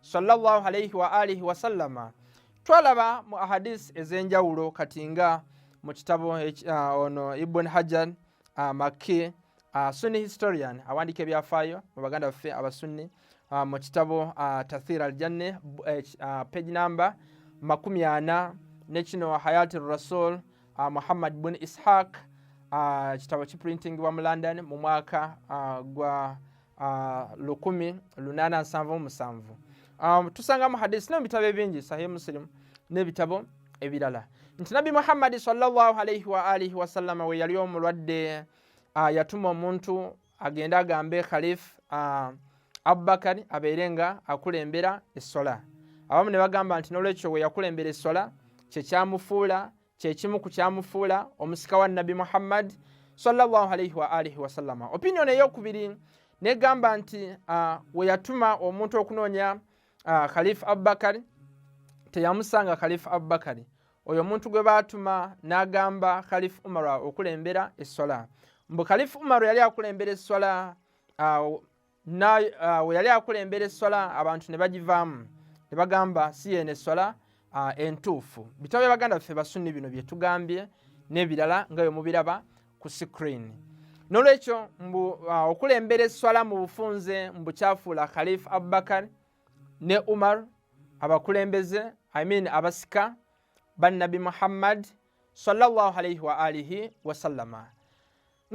sallallahu alaihi wa alihi wasallama twalaba mu ahadisi ez'enjawulo kati nga mu kitabo uh, ono ibun hajar uh, ah, makki uh, sunni historian awandiika ebyafaayo mu baganda baffe abasunni uh, mu kitabo uh, tathir aljanne uh, page number makumi ana nekino hayati rasul uh, muhammad bun ishaq uh, kitabo kiprintingibwa mu london mu mwaka uh, gwa Ah, lukumi lunana nsanvu omusanvu ah, tusangamu hadisi nebitabo ebingi sahih musilimu nebitabo ebirala nti nabbi muhammadi salllahalaihi waalihi wasallama we yali omulwadde ah, yatuma omuntu agende agambe khalif abubakari abeere nga akulembera essola abamu ne bagamba nti nolwekyo we yakulembera essola kyekyamufuula kyekimu ku kyamufuula omusika wa nabbi muhammad sallallahu alaihi wa alihi wasallama opinion eyokubiri negamba nti uh, weyatuma omuntu okunoonya uh, khalifa abubakari teyamusanga khalifa abubakari oyo omuntu gwe baatuma n'agamba khalifa umaru okulembera essola mbu khalifa umaru yali akulembera essola uh, weyali uh, akulembera esswala abantu ne bagivaamu ne bagamba si yeeno esswala uh, entuufu bitabo bya baganda baffe basunni bino bye tugambye n'ebirala nga bwe mubiraba ku screen n'olwekyo mbu uh, okulembera esswala mu bufunze mbu kyafuula khalifa abubakar ne umar abakulembeze i mean abasika bannabi muhammad sallallahu alaihi wa alihi wasallama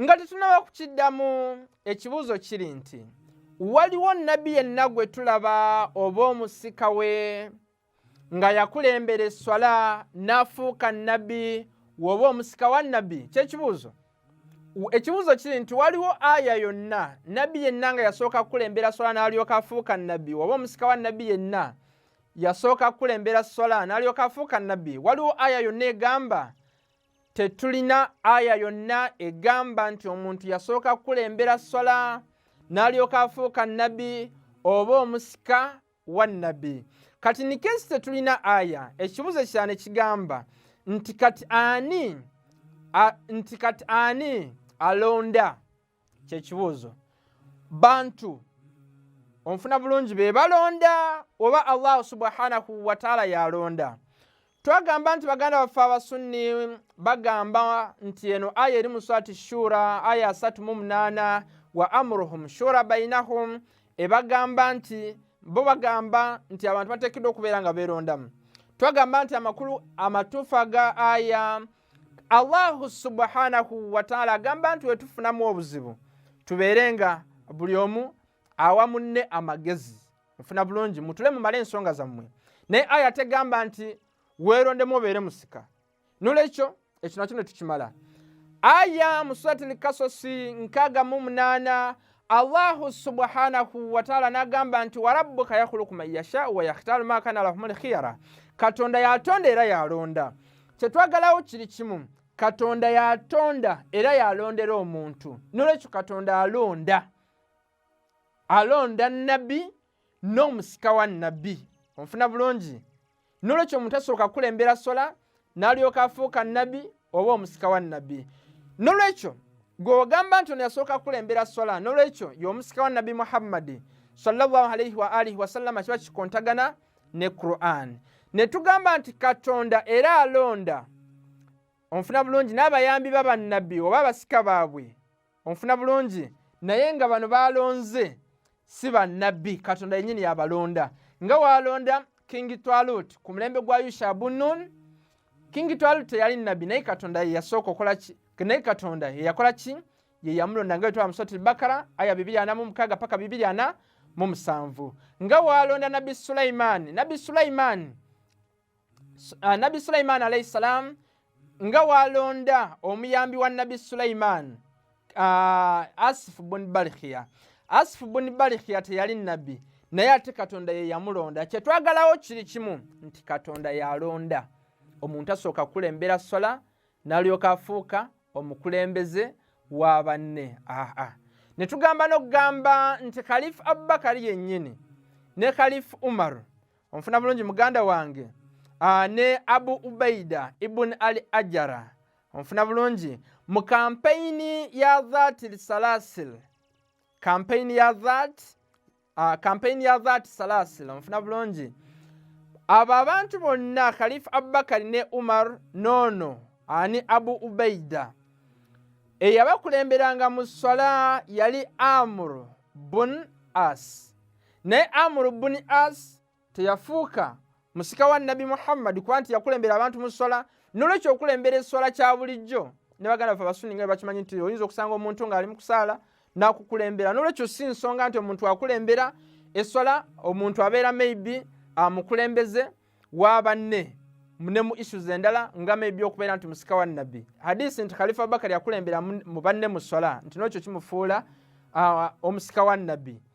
nga tetunaba kukiddamu ekibuuzo kiri nti waliwo nabbi yenna gwe tulaba oba omusika we nga yakulembera esswala n'afuuka nabbi woba omusika wa nabbi kyekibuuzo ekibuuzo kiri nti waliwo aya yonna nabbi yenna nga yasooka kukulembera swala n'alyoka afuuka nabbi woba omusika wa nabbi yenna yasooka kukulembera swala n'alyoka afuuka nabbi waliwo aya yonna egamba tetulina aya yonna egamba nti omuntu yasooka kukulembera swala n'alyoka afuuka nabbi oba omusika wa nabbi kati nikensi tetulina aya ekibuzo kyane kigamba nti kati ani nti kati ani alonda kyekibuuzo bantu onfuna bulungi be balonda oba allahu subhanahu wataala yalonda twagamba nti baganda baffe abasunni bagamba nti eno aya eri muswati shura aya asatu mu munaana wa amuruhum shura bainahum ebagamba nti bo bagamba nti abantu bateekeddwa okubeera nga beerondamu twagamba nti amakulu amatuufu aga aya allahu subhanahu wataala agamba nti wetufunamu obuzibu tubeere nga buli omu awa munne amagezi mufuna bulungi mutule mumale ensonga zammwe naye aya tegamba nti weerondemu obeere musika nolwekyo ekyo nakyo netukimala aya musurati lkasosi nkaga mu munaana allahu subhanahu wataala nagamba nti warabbuka yakhuluku man yashau wayakhtaru ma kana lahum lkhiyara katonda yatonda era yalonda kyetwagalawo kiri kimu katonda yatonda era yalondera omuntu nolwekyo katonda alonda alonda nabbi n'omusika wa nnabbi onfuna bulungi nolwekyo omuntu asooka kukulembera sola n'alyoka afuuka nnabbi oba omusika wa nnabbi nolwekyo gwogamba nti ono yasooka kukulembera sola nolwekyo y'omusika wa nnabbi muhammadi salllahalaihi waalihi wasallama kiba kikontagana ne quran ne tugamba nti katonda era alonda onfuna bulungi n'abayambi babannabbi oba abasika baabwe onfuna bulungi naye nga bano balonze si bannabbi katonda yenyini yabalonda nga walonda kingi twalut ku mulembe gwa yusha bunun kingi twalut teyali nabbi naye katonda yeyasooka okolaki naye katonda yeyakola ki yeyamulonda nga wetwala musoti bakara aya bibiri ana mumukaga paka bibiri ana mumusanvu nga walonda nabbi sulaimaani nabbi sulaimaani uh, nabbi sulaimaani alaihi salaamu nga walonda omuyambi wa nabbi sulaimaani uh, asifu buni barikhiya asifu buni barikhiya teyali nabbi naye ate katonda ye yamulonda kyetwagalawo kiri kimu nti katonda yalonda omuntu asooka kukulembera sola nalyoka afuuka omukulembeze wa banne aa ne tugamba n'okugamba nti kalifu abubakari yennyini ne kalifu umaru onfuna bulungi muganda wange ah, ne abu ubaida ibuni ali ajara onfuna bulungi mu kampeyini ya that lisalasil kampeyini ya that ah, kampeyini ya that salasil onfuna bulungi abo abantu bonna khalifu abubakari ne umar nono ani abu ubaida eyabakulemberanga mu swala yali amuru bun as naye amuru buni as teyafuuka musika wa nabbi muhammadi kuba nti yakulembera abantu mu sswala nolwekyo okulembera esswala kya bulijjo ne baganda fe abasuni nga bakimanyi nti oyinza okusanga omuntu ng'ali mu kusaala nakukulembera nolwekyo si nsonga nti omuntu akulembera esswala omuntu abeera maybe amukulembeze wa banne ne mu issues endala nga maybe okubeera nti musika wa nabbi hadisi nti khalifa abubakari yakulembera mu banne mu sswala nti nolwekyo kimufuula omusika wa nabbi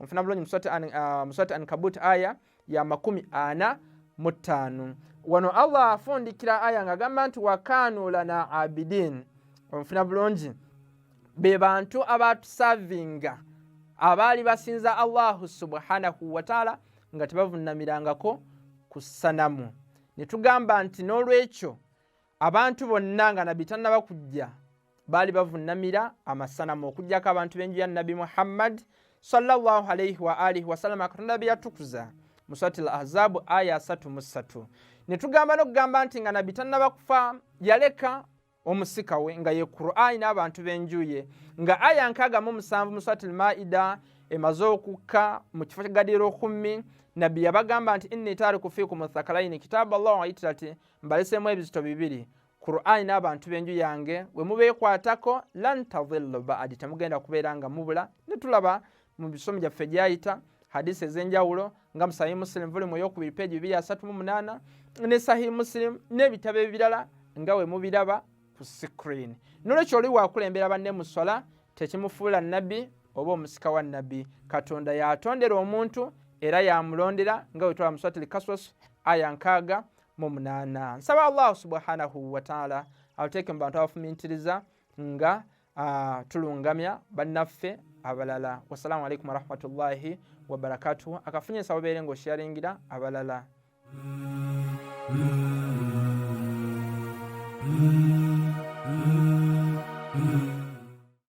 onfuna bulungi muswati ankabut uh, aya ya makumi ana mu ttaano wano allah afundikira aya nga agamba nti wakanu lana abidin onfuna bulungi be bantu abatusavinga abaali basinza allahu subhanahu wataala nga tebavunamirangako ku sanamu ne tugamba nti n'olwekyo abantu bonna nga nabbi tannaba kujja baali bavunnamira amasanamu okugyako abantu b'enju ya nabbi muhammad salllah alaihi waalihi wasalama katonda be yatukuza mu swati l ahzabu aya asatu mu ssatu ne tugamba n'okugamba nti nga nabbi tannaba kufa yaleka omusika we nga ye qurani n'abantu b'enju ye nga aya nkaaga mu musanvu mu swati l maida emaze okukka mu kifo kyagadira okummi nabbi yabagamba nti inni taariku fiikum thakalaini kitaabu allah waitira ti mbalesemu ebizito bibiri qurani n'abantu b'enju yange we mubeekwatako lan tadhillu baadi temugenda kubeera nga mubula ne tulaba mu bisomo gyaffe gyayita hadisi ez'enjawulo nga musahi musilimu vuli mu eyokubiri peegi bibiri asatu mu munaana ne sahi musilimu n'ebitabo ebirala nga we mubiraba ku sikrini nolwekyo oli wakulembera banne mu swala tekimufuula nabbi oba omusika wa nabbi katonda yatondera omuntu era yamulondera nga wetwala muswatili kaswas aya nkaaga mu munaana nsaba allahu subhanahu wataala atuteeke mu bantu abafumintiriza nga tulungamya bannaffe abalala wassalamu alaikum warahmatullahi wabarakatuhu akafunye nsaba obeere nga osharingira abalala Mm-hmm.